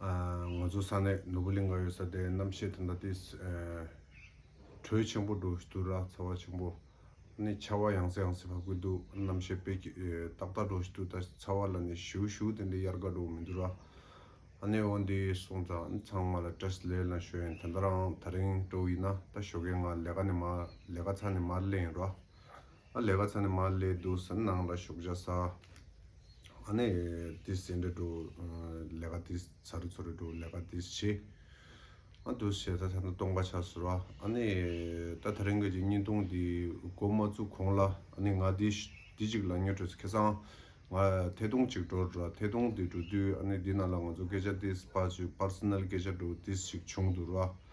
ང་ཚོ་ས་གནས་ནོར་བུ་གླིང་ག་ཡོད་ས་དེ་རྣམ་ཤེས་དེ་འདྲ་དེ། དྲོད་ཆེན་པོ་འགྲོ་འདུག་ར་ཚ་བ་ཆེན་པོ། ནི་ཆར་བ་ཡང་སེ་ཡང་སེ་བབས་ཀྱི་འདུག་རྣམ་ཤེས་དཔེ་ཏག་ཏག་འགྲོ་བཞིན་འདུག་ད་ཚ་བ་ལ་ནི་བཞུ་བཞུ་དེ་འདྲའི་དབྱར་དགའ་འགྲོ་བ་མི་འདུག་ར། ནི་འོ་འདི་སོང་ཙང་ནི་ཚང་མ་ལ་སྟྲེས་ལས་ལ་ཞོ་ཡིན་དེ་འདྲ་རང་ད་རིང་སྤྲོ་བ་ཡིན་ན་ད་ཞོ་གས་ང་ལས་ཀ་ནི་མ་ལས་ཀ་ཚ་ནི་མར་ལས་ཡིན་ར། ཨ་ལས་ཀ་ཚ་ནས་མ་ལས་འདུག་ཟེར་ནང་ལ་ཞོགས་བྱ་ས་ཨ་ནས་དེ་ཟེར་འདྲ་འདུག་ལས་ཀ་དེ་ཚ་རུ་ཚོ་རུ་འདུག་ལས་ཀ་དེ་བྱེད་ཨ་འདུག་ཟེར་ད་ཐ་ན་སྟོང་པ་ཆགས་ཟེར་བ་ཨ་ནས་ད་ད་རེང་གི་གཅིག་གཉིས་སྟོང་དེ་སྒོ་མ་བཙུགས་གོང་ལ་ཨ་ནས་ང་དེ་དེ་གཅིག་ལ་ཉོ་སྤྲོད་ཁེ་སང་ང་ཐད་གཏོང་གཅིག་འགྲོ་རེད་ཐད་གཏོང་དེ་འགྲོ་དུས་ཨ་ནས་དེ་ནང་ལ་ང་ཚོ་སྐད་ཆ་དེ་སྤར་ཆོད Personal སྐད་ཆ་འགྲོ་དེ་ཞིག་བྱུང་འདུག་ར།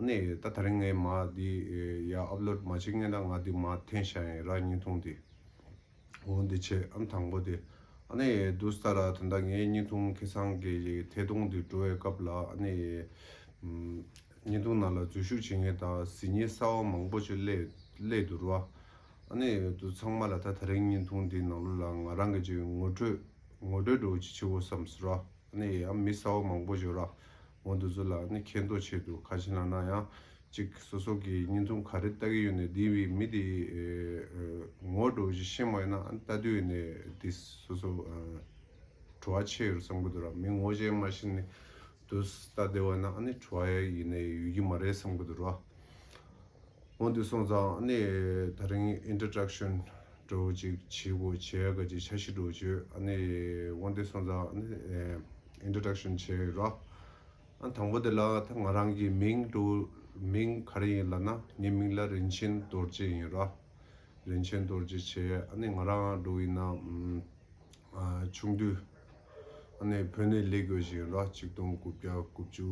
ནས་ད་ད་རིང་ངས་མ་འདི་ཡ upload མ་བྱེད་ངས་ད་ང་འདི་མ་འཐེན་ཤ་ཡིན་ར་སྙིང་ཐུང་དེ་འོ་འདི་ཆེ་ཨམ་དང་པོ་དེ་ནས་འདུག་སྟ་ར་དེ་འདྲ་ངས་སྙིང་ཐུང་ཁེ་སང་གི་ཐེ་དུང་དེ་འགྲོ་བའི་སྐབས་ལ་ནས་སྙིང་ཐུང་ནང་ལ་འཛུལ་ཞུགས་བྱེད་མཁན་དང་གཟི་ཉི་གསར་བ་མང་པོ་ཆེ་སླེ་འདུག་ར་ནས་འདུག་ཚང་མ་ལ་ད་ད་རིང་སྙིང་ཐུང་དེ་ནང་ལོ་ལ་ང་རང་གི་ངོ་སྤྲོད་ངོ་སྤྲོད་འགྲོ་ཆེ་ཆེ་བོ་བསམ་སོ་ར་ནས་ཨམ་མི་གསར་བ་མང་པོ་བྱོ་ར་ངོ་འདི་ཚོ་ལ་ནི་མཁས་མདོག་ཆེད་དུ་ཁ་ཕྱི་ན་གནང་ཡང་ཅིག་སོ་སོ་གི་སྙིང་རྩོམ་ག་རེ་ལྟ་གི་ཡོད་ནས་འདི་བི་མི་དེ་ངོ་སྤྲོ་བཞི་ཤེས་མ་ཡོད་ན་ལྟ་དུས་ནས་དེ་སོ་སོ་བྲོ་བ་ཆེ་ཡོད་བསམ་གི་འདུག་ར་མི་ངོ་ཅན་མ་ཤི་ནས་དུས་ལྟ་བདེ་བ་ན་ནི་བྲོ་བ་ཡིན་ནས་ཡོད་ཀྱི་མ་རེད་བསམ་གི་འདུག་ར། སྔོན་དུ་སོང་ཙང་ནི་ད་རིང Introduction འགྲོ་ཅིག་བྱེད་དགོས་བྱས་དགའ་ཅིག་བྱ་ཤི་འགྲོ་བྱོས་ནི་སྔོན་དུ་སོང་ཙང་ནི Introduction བྱས་ར་དང་པོ་དེ་ལ་ད་ང་རང་གི་མིང་འགྲོ་མིང་ག་རེ་ཡིན་ལ་ན་ངའི་མིང་ལ་རིན་ཆེན་རྡོར་རྗེ་ཡིན་ར་རིན་ཆེན་རྡོར་རྗེ་བྱས་ནི་ང་རང་འགྲོ་ཡིན་ན་ཆུང་དུས་ཨ་ནེ་བོད་ནས་ལས་དགོས་བཞིན་ར་གཅིག་སྟོང་དགུ་བརྒྱ་དགུ་བཅུ་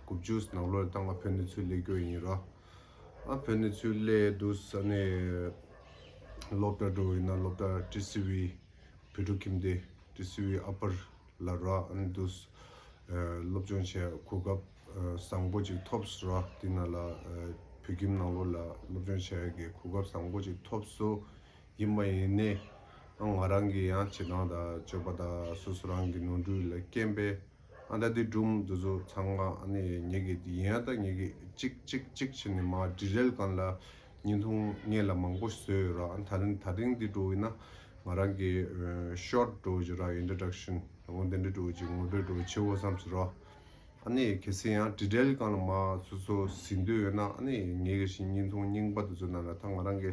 དགུ་བཅུ་ནང་ལོར་ད་ང་བོད་ནས་ཚུར་ལས་དགོས་ཡིན་ར་ཨ་བོད་ནས་ཚུར་ལས་འདུག་ས་ནས་སློབ་གྲྭ་འགྲོ་ཡིན་ན་སློབ་གྲྭ་ཀྲི་སི་བི་བུ་ཕྲུག་ཁྱིམ་སྡེ་ཀྲི་སི་བི་ཨ་ཕར་ལ་ར་ཨ་ནེ་འདུག་སློབ་སྦྱོང་བྱས་གོ་སྐབས་བཟང་པོ་ཅིག་ཐོབ་སོ་ར་དེ་ན་ལ་བོད་ཁྱིམ་ནང་ལོར་ལ་སློབ་སྦྱོང་བྱས་གོ་སྐབས་བཟང་པོ་ཅིག་ཐོབ་སོ། ཡིན་མ་ཡིན་ནི། ང་རང་གི་ཡང་བྱེད་སྟངས་དང་སྤྱོད་པ་དང་སོ་སོ་རང་གི་ནོར་འཁྲུལ་ལ་རྐྱེན་པས་ཨ་ད་འདི་འགྲུབ་འདི་བཟོ་ཚང་མ་ནི་ཉེ་གི་འདི་ཡིན་ཨ་ད་ཉེ་གི་གཅིག་གཅིག་གཅིག་བྱས་ནས་མ་འབྲི་རལ་གང་ལ་ཉིན་ཐུང་ངེད་ལ་མང་པོ་བཟོས་ཡོད་རང་ད་རིང་ད་རིང་འདི་འགྲོ་འི་ན་ང་རང་གི Short འགྲོ་འི་རང Introduction ད་དགོང་དེ་འདྲ་འགྲོ་འི་ངོ་སྤྲོད་འགྲོ་འི་ཆེའོ་བསམ་ཟེར་རོ། ཨ་ནི་གལ་སྲིད་ཡང་འབྲི་རལ་གང་ལ་མ་སོ་སོ་ཟིན་འདོད་ཡོད་ན་ཨ་ནི་ཉེ་གི་བཞིན་ཉིན་ཐུང་རྙིང་པ་འདི་ཚོ་རྣམས་ལ་ད་ང་རང་གི་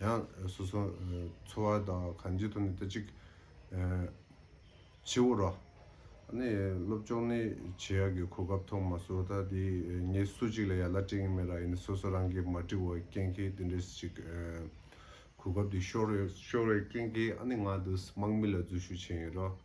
ཡང་སོ་སོ་འཚོ་བ་དང་གང་ཅིའི་ཐོག་ནས་དེ་གཅིག་ཕྱི་བོར་རོ། ནས་སློབ་སྦྱོང་ནི་བྱེད་ཡག་གི་གོ་སྐབས་ཐོག་མ་སོ་ད་དེ་ངས་སུ་གཅིག་ལ་ཡ་ལ་སྤྲད་ངེས་མེད་ར་ཡིན་སོ་སོ་རང་གིས་མ་འབྲི་བར་རྐྱེན་གྱིས་དེ་འདྲས་ཅིག་གོ་སྐབས་དེ་ཤོར་ཤོར་བའི་རྐྱེན་གྱིས་ཨ་ནི་ང་དུས་སུ་དམག་མི་ལ་འཛུལ་ཞུགས་བྱས་ཡིན་རོ།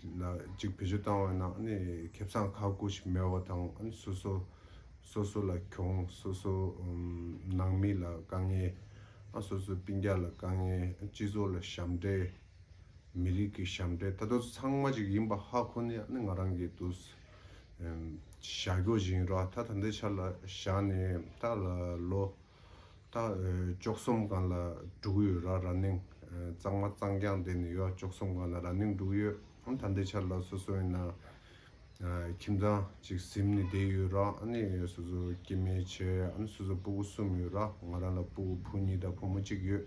གཅིག་བེད་སྤྱོད་བཏང་བའི་ནང་ནས་ཁེ་བཟང་ཁག་དགུ་ཞིག་མེད་པ་དང་སོ་སོ་སོ་སོ་ལ་གྱོང་སོ་སོ་ནང་མི་ལ་དཀའ་ངལ་སོ་སོ་སྤུན་རྒྱ་ལ་དཀའ་ངལ་སྤྱི་ཚོགས་ལ་ཞབས་འདྲེན་མི་རིགས་ཀྱི་ཞབས་འདྲེན་ད་དུ་ཚང་མ་ཅིག་ཡིན་པ་ཧ་ཁོ་ནི་ཡང་ནི་ང་རང་གིས་དུ་ཞག་གོ་བཞིན་རོ་ད་ད་ལྟའི་ཆར་ལ་ཞག་ནི་ད་ལོ། ད་ཅོག་གསུམ་ག་ལ་འབྲུག་ཡོད་ར་ར་ནིང་གཙང་མ་གཙང་རྐྱང་དེ་ནི་ཡོད་ཅོག་གསུམ་ག་ལ་ར་ནིང་འབྲུག་ཡོད་ད་འདི་ཆར་ལ་སོ་སོ་ཡིན་ན་ཁྱིམ་ཚང་གཅིག་གཟིམ་ནི་བསྡད་ཡོད་ར་ནི་སོ་སོ་སྐྱེ་མེད་ཆེ་ཨ་ནི་སོ་སོ་སྤུ་གུ་གསུམ་ཡོད་ར་ང་རང་ལ་སྤུ་གུ་བུ་གཉིས་དང་བུ་མོ་གཅིག་ཡོད་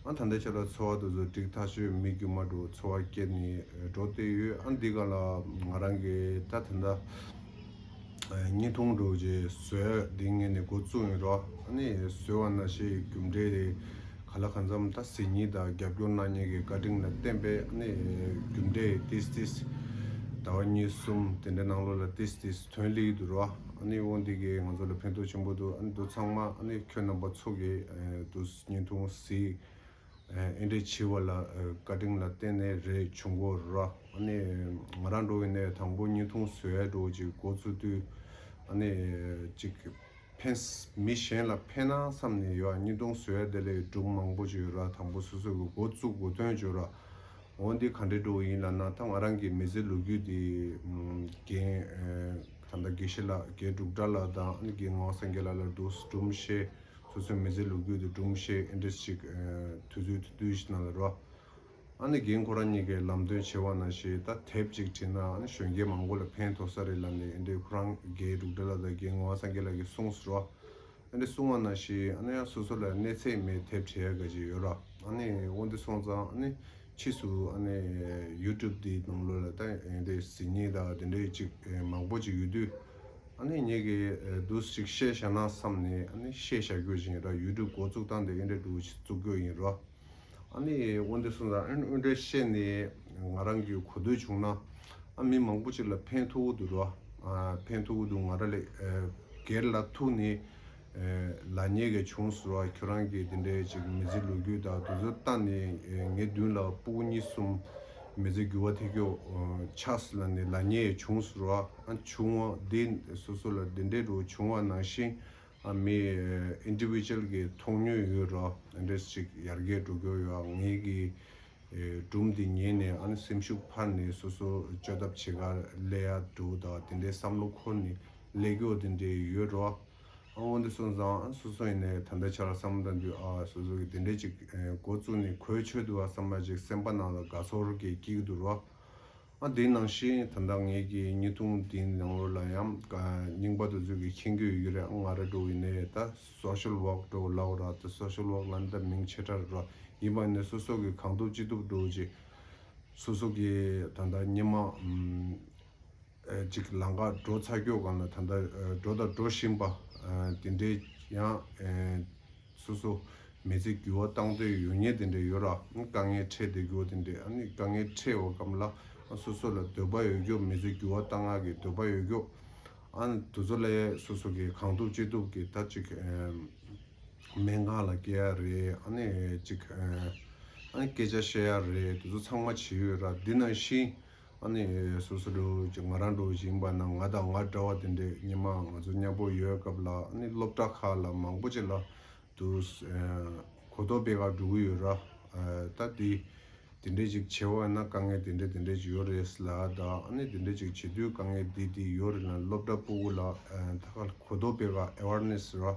ཨ་ད་ལྟ་ཁྱེད་ལ་འཚོལ་བ་དེ་ཚོ་འགྲིག་ཐག་ཆོད་མི་རྒྱུ་མ་འགྲོ་འཚོལ་བ་སྐྱེལ་ནས་འགྲོ་བསྡད་ཡོད་ཨ་འདི་ག་ལ་ང་རང་གི་ད་དེ་འདྲ་གཉིས་འཐུང་འགྲོ་ཅེས་བཟོས་འདི་ངས་ནས་འགོ་བཙུགས་ཡིན་རོ་ཨ་ནི་བཟོས་བ་ན་ཞེས་རྒྱུ་འབྲས་དེ་ག་ལ་གང་འཚམ་ད་ཟེར་ཉིན་དང་རྒྱབ་སྐྱོར་གནང་མྱེད་ཀྱི་བཀའ་དྲིན་ལ་བརྟེན་པས་ཨ་ནི་རྒྱུ་འབྲས་ཏིས་ཏིས་ཟླ་བ་གཉིས་གསུམ་དེ་འདྲ་ནང་ལོ་ལ་ཏིས་ཏིས་དོན་གླིང་དུ་རོ་ཨ་ནི་འོ་འདི་གས་ང་ཚོ་ལ་ཕན་ཐོག་ཆེན་པོ་འདུག་ཨ་འདི་ཚང་མ་ཨ་ནི་ཁྱོད་རྣམ་པ་ཚོ་གིས་འདུག། བརྙན་ཐུང་གཟིགས། ཨེ་འདྲས་བྱིས་བ་ལ་བཀའ་དྲིན་ལ་བརྟེན་ནས་རེ་བྱུང་གོ་ར། ཨ་ནི། ང་རང་འགྲོ་བའི་གནས་དང་པོ་བརྙན་ཐུང་བཟོས་ཡས་འགྲོ་ཅིག་འགོ་བཙུགས་དུས། ཨ་ནི། ཅིག། ཕན། མི་གཞན་ལ་ཕན་ན་བསམ་ནས་ཡོད་བརྙན་ཐུང་བཟོས་ཡས་དེ་ལས་སྒྲུབ་མང་པོ་བྱོས་ར་དང་པོ་སོ་སོ་གི་འགོ་བཙུགས་གོ་དོན་བྱོས་ར། འོ་འདི་ག་འདྲས་འགྲོ་ཡིན་ལ་ན་ད་ང་རང་གི་མི་ཚེ་ལོ་རྒྱུས་འདི། རྒན། ད་ད་དགེ་བཤེས་ལགས་རྒྱས་འབྲུག་སྒྲ་ལགས་དང་ཨ་ནི་དགེ་ངོ་སངས་རྒྱས་ལགས་ལ་འདུག་སྒྲུབ་མི་ཤེས། སོ་སོའི་མི་ཚེ་ལུག་ཁྱུ་དུ་སྒྲུང་ཞིག Index ཅིག་དུས་ཚོད་དུ་བསྡུས་ཤིག་གནང་ལ་རོགས། ཨ་ནི་རྒན་ཁོ་རང་གཉིས་ཀས་ལམ་སྟོན་བྱེད་བ་ན་ཞེས་ད་དེབ་ཅིག་བྲིས་ན་ཨ་ནི་གཞོན་སྐྱེས་མང་པོ་ལ་ཕན་ཐོགས་ས་རེད་ལབ་ནས་ཨ་འདྲེ་ཁོ་རང་རྒས་འབྲུག་སྒྲ་ལ་ད་རྒན་ངོ་བ་སངས་རྒྱས་ལགས་ཀྱིས་གསུངས་རོགས། ཨ་འདྲེ་གསུང་བ་ན་ཞེས་ཨ་ནི་ཡང་སོ་སོ་ལ་གནས་ཚད་མའི་དེབ་བྲིས་ཡ་ག་ཅིག་ཡོད་རོགས་ཨ་ནི་དབོ་འདི་སོང་ཙང་ཨ་ནི་ཕྱིས་སུ་ཨ་ནི YouTube འདིའི་ནང་ལོ་ལ་ད་ཨ་འདྲེ་ཟིན་ཉིན་དང་དེ་འདྲས་ཅིག་མང་པོ་ཅིག་ཡོད་དུས། ཨ་ནི་ཉེ་གི་འདུག་ཟིག་བཤད་བཞག་ན་བསམ་ནས་ཨ་ནི་བཤད་བཞག་རྒྱུ་ཞིག་ཡིན་ར་ཡུ་ཏུབ་འགོ་བཙུགས་སྟངས་དེ་ཨིན་དྲ་འགྲུལ་བཙུགས་རྒྱུ་ཡིན་ར་ཨ་ནི་དབོན་དེ་གསུངས་ཙང་ཨིན་དྲ་བཤད་ནས་ང་རང་གི་གོ་ཐོས་བྱུང་ན་ཨ་མི་མང་པོ་ཅིག་ལ་ཕན་ཐོགས་འུ་འདུག་ར་ཕན་ཐོགས་འུ་འདུག་ང་ར་ལས་སྒེར་ལ་ཐུགས་ནས་ལ་ཉེ་གི་བྱུང་ཟེར་བ་ཁྱོད་རང་གིས་དེ་འདྲའི་ཅིག་མི་ཚེ་ལོ་རྒྱུས་དག་དུས་ཚོད་བལྟ་ནས་ངའི་མདུན་ལ་སྤུག་གཉིས་གསུམ་མི་ཚེ་འགྱུར་བ་ཐེ་ཁྱོགས་ཆགས་ཟེར་ལ་ནི་ལ་ཉེ་ཡི་བྱུང་ཟེར་བ་ཨ་བྱུང་བ་འདི་སོ་སོ་ལ་དེ་འདྲའི་རུ་བྱུང་བ་ནང་བཞིན་ཨ་མི Individual གི་མཐོང་ཉུལ་ཡོད་རོ་འདྲེས་ཅིག་ཡར་རྒྱས་འགྲོ་རྒྱུར་ཡོད་ངེས་ཀྱི་སྒྲུང་འདི་ཉན་ནས་ཨ་ནི་སེམས་ཤུགས་འཕར་ནས་སོ་སོར་བཅོས་ཐབས་བྱེད་ཁར་སླེ་ཡ་འདུག་ད་དེ་འདྲའི་བསམ་བློ་འཁོར་ནས་སླེ་སྐྱོ་དེ་འདྲས་ཡོད་འགྲོ། དབང་འདི་སོང་ཙང་ཨ་སོ་སོ་ཡིན་ནའི་ད་ལྟ་ཆར་བསམ་བློ་དང་དུས་ཨ་སོ་སོ་གི་དེ་འདྲས་ཅིག་འགོ་བཙུགས་ནས་གོས་ཆོད་འདུག་ཨ་བསམ་པ་ཅིག་སེམས་པ་ནང་ལ་དགའ་ཚོར་གྱིས་སྐྱིད་གི་འདུག་རོ། ཨ་དེ་ནང་བཞིན་ད་ལྟ་ངེད་ཀྱི་གཉིས་འཐུང་དེ་ནང་ལོ་ལ་ཡང་རྙིང་པ་དུ་ཚོད་ཀྱི་ཁྱེད་འགྱོད་ཡོད་རེད་ཨ་ང་ར་འགྲོ་ཡིན་ནས་ད Social Work འགྲོ་གི་ལའོ་ར་ད Social Work ལ་འདི་མིང་ཆེ་ཕྲ་རེད་རོ་ཡིན་པ་ནས་སོ་སོ་གི་གང་ཐུབ་ཅི་ཐུབ་འགྲོ་ཅིག་སོ་སོ་གི་ད་ལྟ་སྙེ་མ་ཅིག་ལང་ཀ་འགྲོ་ཚ་འགྱོད་གང་ལ་ད་ལྟ་འགྲོ་དང་འགྲོ་བཞིན་པ་དེ་འདྲའི་ཡང་སོ་སོ། མི་ཚེ་འགྱུར་བ་བཏང་དུས་ཡོད་ཉེས་དེ་འདྲ་ཡོད་ར། དཀའ་ངལ་འཕྲད་དུས་འགྱུར་བ་དེ་འདྲ། དཀའ་ངལ་འཕྲད་འོག་གམ་ལ། སོ་སོ་ལ་འདོད་པ་ཡོད་རྒྱུ་མི་ཚེ་འགྱུར་བ་བཏང་སྔགས་ཀྱི་འདོད་པ་ཡོད་རྒྱུ། དུ་ཚོད་ལ་ཡས་སོ་སོ་གིས་གང་ཐུབ་ཅི་ཐུབ་ཀྱིས་ད་ཅིག། སྨན་ཁང་ལ་སྐྱེལ་ཡ་རེད། ཅིག། སྐད་ཆ་བཤད་ཡ་རེད་དེ་ཚོ་ཚང་མ་བྱེད་ཡོད་ར་འདི་ནང་བཞིན། ཨ་ནི་སོ་སོ་སྒྲོལ་ཅིག་ང་རང་སྒྲོལ་ཞིང་པ་ནང་ང་དང་ང་འདྲ་བ་དེ་འདྲས་སྙེ་མ་ང་ཚོ་མཉམ་པོ་ཡོད་སྐབས་ལ་ཨ་ནི་སློབ་གྲྭ་ཁག་ལ་མང་པོ་ཅིག་ལ་དུ་གོ་རྟོགས་སྤེལ་ཁག་འགྲོ་གི་ཡོད་ར་ད་དེ་དེ་འདྲས་ཅིག་བྱེད་འོ་ན་དཀའ་ངལ་དེ་འདྲས་དེ་འདྲས་ཅིག་ཡོད་རེད་ལ་ད་ཨ་ནི་དེ་འདྲས་ཅིག་བྱེད་དུས་དཀའ་ངལ་འདི་འདི་ཡོད་རེད་ལ་སློབ་གྲྭ་པུ་གུ་ལ་ད་གོ་རྟོགས་སྤེལ་ཁག awareness ར།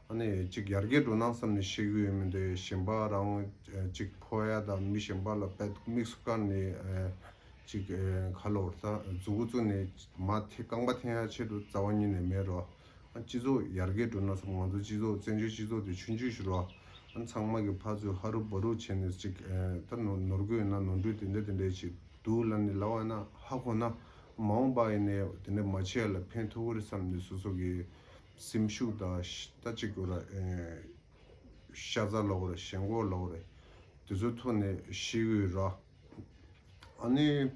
ཨ་ནེ། ཅིག་ཡར་རྒྱས་འགྲོ་སྣང་བསམ་ནས་བཤད་གི་ཡོད་མི་འདུག་ཡ་ཞན་པ་རང། ཅིག་ཕོ་ཡ་དང་མི་ཞན་པ་ལ་བལ་དུག་དམིགས་སུ་བཀར་ནས། ཅིག་ག་ལོར་ད་རྫུ་འགོ་བཙུགས་ནས་མ་འཐེན་རྐང་པ་འཐེན་ཡ་ཆེད་དུ་རྩ་བ་ཉིད་ནས་མེད་རོ། སྤྱི་ཚོགས་ཡར་རྒྱས་འགྲོ་ན་བསམ་ང་ཚོ་སྤྱི་ཚོགས་བཙན་བྱོལ་སྤྱི་ཚོགས་དེ་ཆུ་འཇུས་ཤིག་རོ། ཚང་མ་གི་ཕ་ཚོས་ཧ་རུ་བ་རུ་བྱས་ནས་ཅིག་ད་ནོར་དགོས་ཡོད་ན་ནོར་འཁྲུལ་དེ་འདྲ་དེ་འདྲ་ཅིག་འདུག་ལབ་ནས་ལབ་བ་ན་ཧ་གོ་ན། མ་འོངས་པ་ཡིན་ནས་དེ་འདྲ་མ་བྱས་ལ་ཕན་ཐོག་གི་རེད་བསམ་ནས་སོ་སོ་གི་སེམས་ཤུགས་དང་ལྟ་ཅི་དགོས་ར། ཤ་ཟ་ལོག་རེ་ཞེན་འགོག་ལོག་རེ། དེ་ཚོ་ཐོས་ནས་ཤི་འོས་ར། ཨ་ནི།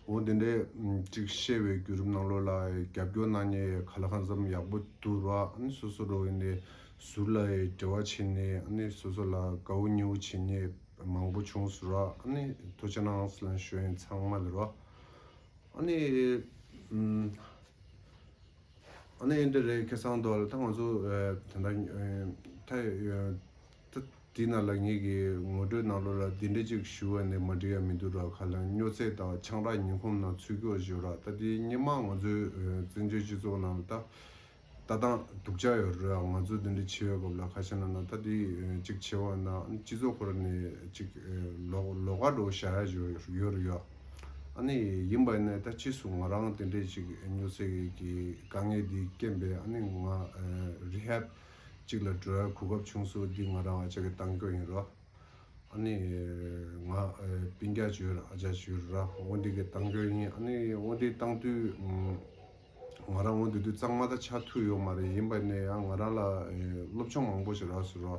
འོ་དེ་འདྲས་ཅིག་བཤད་བའི་རྒྱུད་རིམ་ནང་ལོགས་ལ་རྒྱབ་སྐྱོར་གནང་ཉེ་ག་ལ་གང་འཚམ་ཡག་པོ་འདུག་ར། ཨ་ནི་སོ་སོ་རོགས་ཡིན་ནའི་ཟུར་ལ་འབྲེལ་བ་བྱས་ནས་ཨ་ནི་སོ་སོ་ལ་དགའ་བོ་ཉེ་བོ་བྱེད་ཉེ་མང་པོ་བྱུང་སུ་ར། ཨ་ནི་ཐོ་ཆེ་ནང་སི་ལན་ཞོ་ཡིན་ཚང་མ་ལ་ར། ཨ་ནི། ཨ་ནི་འདི་རེད་ཁེ་སང་འདོད་ལ་ད་ང་ཚོ་དེ་འདྲ་ཐ་ཡོད། དེས་ན་ལགས་ཉིད་ཀྱི་ངོ་སྤྲོད་ནང་ལོ་ལ་དེ་འདྲ་ཅིག་ཞུ་བ་ནི་མ་འགྲིག་ཡ་མི་འདུག་ར་ཁ་ལ་སྨྱོ་ཚེ་དང་ཆང་རག་ཉིན་གོམས་ནང་ཚུད་ཀྱོ་བཞོ་ར་ད་དེ་སྙེ་མ་ང་ཚོའི་བཙན་བྱོལ་སྤྱི་ཚོགས་ནང་ལ་ད་ལྟ་དང་དུག་ཆག་ཡོ་ར་ང་ཚོ་དེ་འདྲ་བྱེ་བའི་སྐབས་ལ་ཁ་ཤ་ན་ན་ད་དེ་ཅིག་བྱེ་བ་ན་སྤྱི་ཚོགས་ཁོ་ར་ནས་ཅིག་ལོ་ལོ་ཁ་འགྲོ་བཞག་ཡ་བཞོ་ཡོ་ར་ཡོ། ཨ་ནི། ཡིན་པ་ནས་ད་ཕྱིས་སུ་ང་རང་དེ་འདྲས་ཅིག་ཉོ་ཚེ་གི་དཀའ་ངལ་འདི་རྐྱེན་པས་ཨ་ནི་ང Rehab ཅིག་ལ་འགྲོ་ཡར་གོ་སྐབས་བྱུང་སུ་འདི་ང་རང་ཨ་ཅག་གི་གཏང་སྐྱོ་ཡིན་རོ། ཨ་ནི། ང་བིན་རྒྱ་བྱོས་ར་ཨ་ཅག་བྱོས་ར་བོ་འདི་གི་གཏང་སྐྱོ་ཡིན་ཨ་ནི་བོ་འདི་གཏང་དུས་ང་རང་བོ་འདི་དུས་གཙང་མ་ད་ཆ་ཐུག་ཡོད་མ་རེད་ཡིན་པ་ནས་ཡང་ང་རང་ལ་སློབ་སྦྱོང་མང་པོ་ཞིག་རགས་སུ་རོ།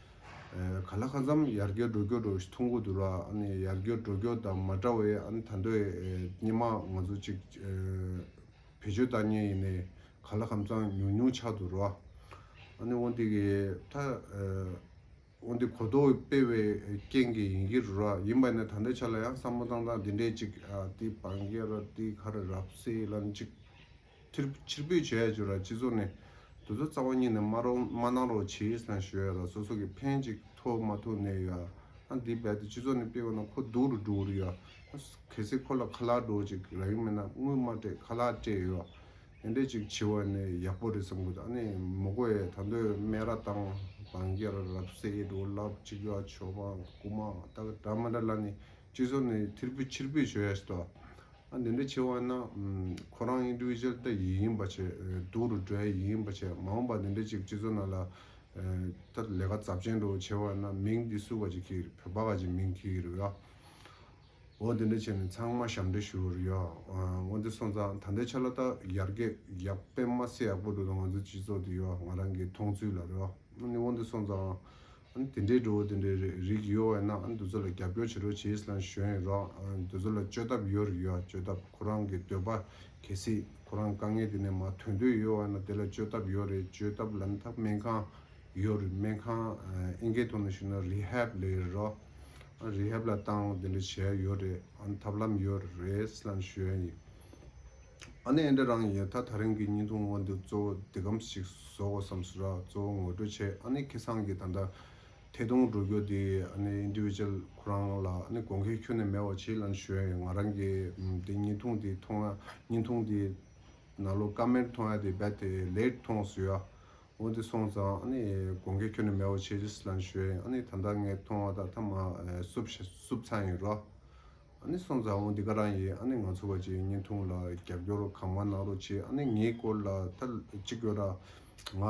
ག་ལ་ཁ་འཇམ་ཡར་རྒྱས་འགྲོ་རྒྱུར་ཐུགས་འགོ་བསྡུ་ར་ཡར་རྒྱས་འགྲོ་རྒྱུ་དང་མ་འདྲ་བའི་ད་འདོད་སྙེ་མ་ང་ཚོ་གཅིག་བེད་སྤྱོད་བཏང་ཉེ་ཡིན་ནས་ག་ལ་ཁམ་ཚང་ཉུང་ཉུང་ཆགས་འདུག་ར་འོན་ཏེ་གི་ད་འོན་ཏེ་གོ་རྟོགས་སྤེལ་བའི་རྐྱེན་གི་ཡིན་གི་རུ་ར་ཡིན་པ་ནས་ད་འདོད་ཆ་ལ་ཡང་བསམ་བློ་བཏང་སྟངས་འདི་འདྲས་གཅིག་དེ་བང་རྒྱ་ར་དེ་ཁ་ར་རབ་སེ་ལན་གཅིག། ཕྱིར་ཕྱིར་འབུད་བྱས་ཡོད་ཅེས་ར་སྤྱི་ཚོགས་ནས་དུས་ཚོད་རྩ་བ་ཉིད་ནས་མ་རོགས་མ་གནང་རོགས་བྱས་ཡོད་སང་ཞོལ་ལ་སོ་སོ་གིས་ཕན་གཅིག་ཐོག་མ་ཐུག་ནས་ཡོད་ཨང་འདི་རྦད་དེ་སྤྱི་ཚོགས་ནས་སྤེལ་བ་ན་ཁོ་སྡུག་རུ་འགྲོ་གི་རེད་ཨང་གལ་སྲིད་ཁོ་ལ་ཁ་ལག་སྒྲོག་ཅིག་རག་གི་མེད་ན་དངུལ་མ་སྤྲད་ཁ་ལག་སྤྲད་ཡོད་དེ་འདྲས་ཅིག་བྱེད་བ་ནི་ཡག་པོ་རེད་བསམ་གི་འདུག་ཨ་ནི་མོ་ཀོ་ཡས་ད་འདོད་སྨད་ར་དང་བང་རྒྱ་ར་རབ་གསལ་ཡིད་འགྲོ་ལབ་གཅིག་ག་ཆོ་ག་རྐུ་མ་ད་ག་འདྲ་མ་འདྲ་ལ་ནི་སྤྱི་ཚོགས་ནས་ཕྱིར་འབུད་ཕྱིར་འབུད་བྱོས་ཡ་ཞིག་དོ་འདི་འདྲ་བྱེད་བ་ན་ཁོ་རང Individual ལྟ་ཡི་ཡིན་པ་བྱེད་སྡུག་རུ་འགྲོ་ཡ་ཡི་ཡིན་པ་བྱེད་མ་འོངས་པ་འདི་འདྲ་ཅིག་སྤྱི་ཚོགས་ནང་ལ་ད་ལས་ཀ་ཛབ་ཅན་འགྲོ་བྱེད་བ་ན་མིང་འདི་སུ་བ་ཅིག་གི་རེད་བོད་པ་ག་ཅིག་མིང་གི་རེད་ཨོ་འོ་འདི་འདྲ་བྱེད་ནས་ཚང་མ་ཞབས་འདྲེ་ཞུ་རུ་ཡོད་ཨོ་འདི་སོང་ཙང་ད་འདྲ་ཆ་ལ་ད་ཡར་རྒྱས་ཡག་དཔེ་མ་སེ་ཡག་པོ་འགྲོ་འདུག་ང་ཚོའི་སྤྱི་ཚོགས་འདི་ཡོད་ང་རང་གི་མཐོང་ཚུལ་ལ་རེད་ཨོ་འདི་སོང་ཙང་ཨ་དེ་འདྲའི་འགྲོ་བ་དེ་འདྲའི་རིགས་ཡོད་བས་ན་ཨ་འདི་ཚོ་ལ་རྒྱབ་སྐྱོར་བྱེད་རོགས་བྱས་སླང་ཞོན་ཡོད་རོགས་འདི་ཚོ་ལ་བཅོས་ཐབས་ཡོད་རེད་ཡོད་བཅོས་ཐབས་ཁོ་རང་གི་འདོད་པ་གལ་སྲིད་ཁོ་རང་དཀའ་ངལ་དེ་ནས་མ་ཐོན་འདོད་ཡོད་བས་ན་དེ་ལ་བཅོས་ཐབས་ཡོད་རེད་བཅོས་ཐབས་ལམ་ཐབས་སྨན་ཁང་ཡོད་རེད་སྨན་ཁང་ཨེ་འགལ་ཐོག་ནས་ཞུ་ན Rehab ལས་རེད་རོགས Rehab ལ་བཏང་དེ་འདྲ་བྱས་ཡོད་རེད་ཨ་ཐབས་ལམ་ཡོད་རེད་སླང་ཞོན་ཡོད། ཨ་ནེ་ཨེ་འདྲ་རང་ཡོད་ད་ད་རིང་གི་སྙིང་སྟོང་དབང་འདི་གཙོ་བོ་འདི་གམ་ཞིག་བཟོ་དགོ་བསམ་སོ་ར་གཙོ་བོ་ངོ་སྤྲོད་བྱས་ཨ་ནེ་ཁེ་སང་གི་ད་ལྟ་ཐད་གཏོང་འགྲོ་རྒྱུ་དེ་ཨ་ནེ Individual ཁོ་རང་ལ་ཨ་ནེ་དགོངས་ཁེ་ཁྱོན་ནས་མེད་བ་བྱེད་ལན་ཞོན་ཡོད་ང་རང་གི་དེ་སྙིང་ཐུང་དེ་མཐོང་ཡ་སྙིང་ཐུང་དེ་ན་ལོ་ཀ་མེར་མཐོང་ཡ་དེ་རྦད་དེ་ལེགས་མཐོང་བཟོ་ཡ་འོ་དེ་སོང་ཙང་ཨ་ནེ་དགོངས་ཁེ་ཁྱོན་ནས་མེད་བ་བྱེད་ཅེས་ལན་ཞོན་ཡོད་ཨ་ནེ་ད་ད་ངས་མཐོང་བ་ད་ད་མ་བསུབས་བསུབས་ཚར་ཡིན་རོ། ཨ་ནེ་སོང་ཙང་འོང་འདི་ག་རང་ཡིན་ཨ་ནེ་ང་ཚོ་བ་ཅིག་བརྙན་ཐུང་ལ་རྒྱབ་སྐྱོར་གང་མང་གནང་རོགས་བྱེད་ཨ་ནེ་ངའི་སྐོར་ལ་ད་ཅིག་གོ་ར་ང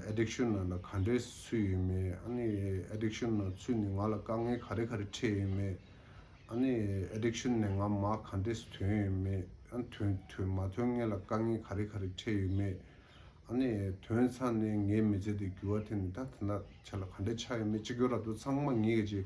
Addiction ནང་ལ་ག་འདྲའི་ཚུད་ཡོད་མེད་ཨ་ནེ Addiction ནང་ཚུད་ནས་ང་ལ་དཀའ་ངལ་ག་རེ་ག་རེ་འཕྲད་ཡོད་མེད་ཨ་ནེ Addiction ནས་ང་མ་ག་འདྲས་སུ་དོན་ཡོད་མེད་དོན་དོན་མ་དོན་ངེད་ལ་དཀའ་ངལ་ག་རེ་ག་རེ་འཕྲད་ཡོད་མེད་ཨ་ནེ་དོན་ཚང་ནས་ངའི་མི་ཚེ་འདི་འགྱུར་བ་དེ་ནི་ད་ད་ཆ་ལ་ག་འདྲས་ཆགས་ཡོད་མེད་ཅིག་གོ་ར་འདུག་ཚང་མ་ངེད་ཀྱི་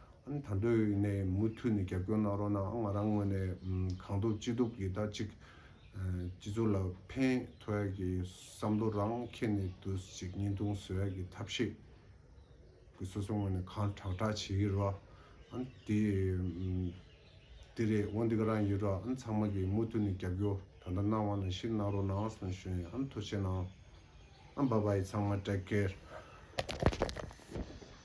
ཨང་ད་འདོད་ཡོད་ནས་མུ་མཐུད་ནས་རྒྱབ་སྐྱོར་གནང་རོགས་གནང་ཨང་ང་རང་ངོས་ནས་གང་ཐུབ་ཅི་ཐུབ་ཀྱིས་ད་ཅིག་སྤྱི་ཚོགས་ལ་ཕན་ཐོགས་ཡག་གི་བསམ་བློ་རང་འཁྱེར་ནས་དུ་ཅིག་བརྙན་ཐུང་བཟོ་ཡག་གི་ཐབས་ཤེས་ཀྱིས་སོ་སོ་ངོས་ནས་གང་དྲག་དྲག་བྱེད་ཀྱི་རོགས་ཨང་དེ་དེ་རེད་འོ་འདི་ག་རང་ཡིན་རོགས་ཨང་ཚང་མ་གིས་མུ་མཐུད་ནས་རྒྱབ་སྐྱོར་ད་ལྟ་གནང་བ་ནང་བཞིན་གནང་རོགས་གནང་ཨང་གསོན་ཤོན་ཨང་མཐོ་ཆེ་གནང་ཨང་བ་བ་ཡིས་ཚང་མ Take care།